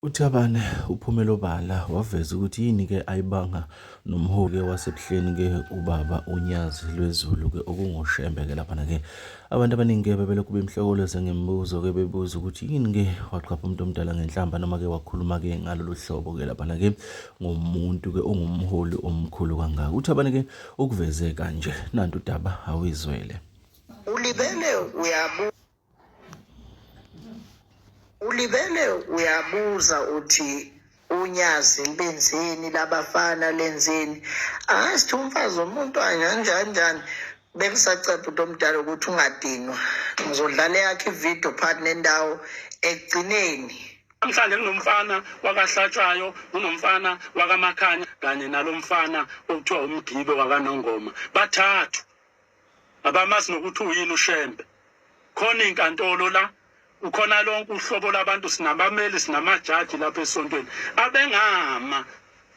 UThabane uphumele obala waveza ukuthi yini-ke ayibanga nomholi-ke waseBuhleni-ke ubaba uNyazi lwezulu-ke okungoShembe-ke laphana-ke. Abantu abaningi-ke bebelokhu bemhlokoloze ngemibuzo-ke bebuza ukuthi yini-ke waqapha umuntu omdala ngenhlamba noma-ke wakhuluma-ke ngalolu hlobo-ke laphana-ke ngomuntu-ke ongumholi omkhulu kangaka. UThabane-ke ukuveze kanje, nantu udaba awizwele. Ulibele uyabu ulibele uyabuza uthi unyazi libenzeni labafana lenzeni angazi ukuthi umfazi womuntu anjanjanjani bekusaceba umuntu omdala ukuthi ungadinwa ngizodlala eyakhe ividiyo phakathi nendawo ekugcineni namhlanje kunomfana wakahlatshwayo kunomfana wakamakhanya kanye nalo mfana okuthiwa umgibe wakanongoma bathathu Abamazi nokuthi uyini uShembe. Khona inkantolo la ukhona lonke uhlobo labantu sinabameli sinamajaji lapha esontweni abengama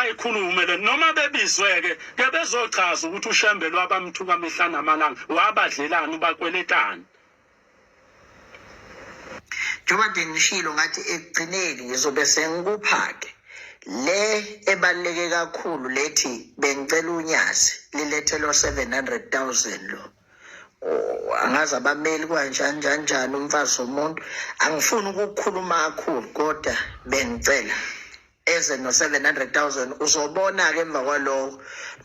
ayikhulume le noma bebizweke ke bezochaza ukuthi ushembelwa abamthuka mihla namalanga wabadlelani ubakweletani njengoba nje ngishilo ngathi ekugcineni ngizobe sengikupha-ke le ebaluleke kakhulu lethi bengicela unyazi lilethelwa 700 000 lo Oh, angazi abameli kwanjani njani njani umfazi womuntu angifuni ukukhuluma kakhulu kodwa bengicela eze no-700,000 uzobona-ke emva kwaloko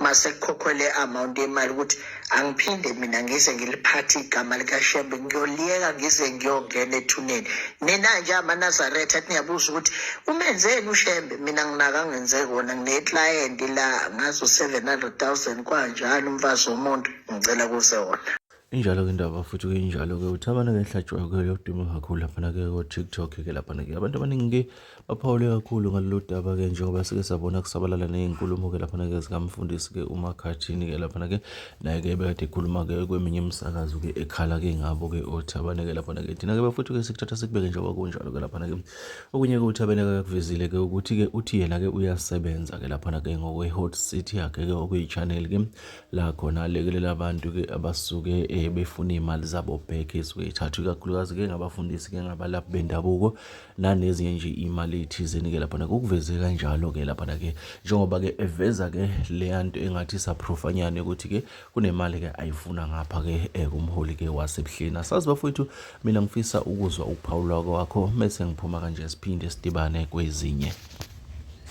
masekukhokhwe le amount yemali ukuthi angiphinde mina ngize ngiliphathe igama likashembe ngiyoliyeka ngize ngiyongena ethuneni nina nje amanazaretha athi niyabuza ukuthi umenzeni ushembe mina nginaka ngenze kona ngineklayenti la ngazo 700,000 kwanjalo umfazi womuntu ngicela kuze wona Injalo-ke indaba futhi kuyinjalo-ke ukuthi abantu-ke ehlatshwayo-ke yoduma kakhulu laphana-ke ko-tiktok-ke laphana-ke abantu abaningi-ke baphawule kakhulu ngalolu daba-ke njengoba sike sabona kusabalala ney'nkulumo-ke laphana-ke zikamfundisi-ke umakhathini-ke laphana-ke naye-ke bekade ekhuluma-ke kweminye imisakazo-ke ekhala-ke ngabo-ke othabane-ke laphana-ke thina-ke bafuthu-ke sikuthatha sikubeke njengoba kunjalo-ke laphana-ke okunye-ke uthabene-ke akakuvezile-ke ukuthi-ke uthi yena-ke uyasebenza-ke laphana-ke ngokwe-hot city yakhe-ke okuyi-channel-ke la khona alekelela abantu-ke abasuke um befuna iy'mali zabo back esuke ithathwa ikakhulukazi-ke ngabafundisi-ke ngabalaphi bendabuko nanezinye nje iy'mali ey'thizeni-ke laphana kukuveze kanjalo-ke laphana-ke njengoba-ke eveza-ke leya nto engathi saprofanyane ukuthi-ke kunemali-ke ayifuna ngapha-ke um kumholi-ke wasebuhleni asazi bafowethu mina ngifisa ukuzwa ukuphawula kwakho mese ngiphuma kanje siphinde sidibane kwezinye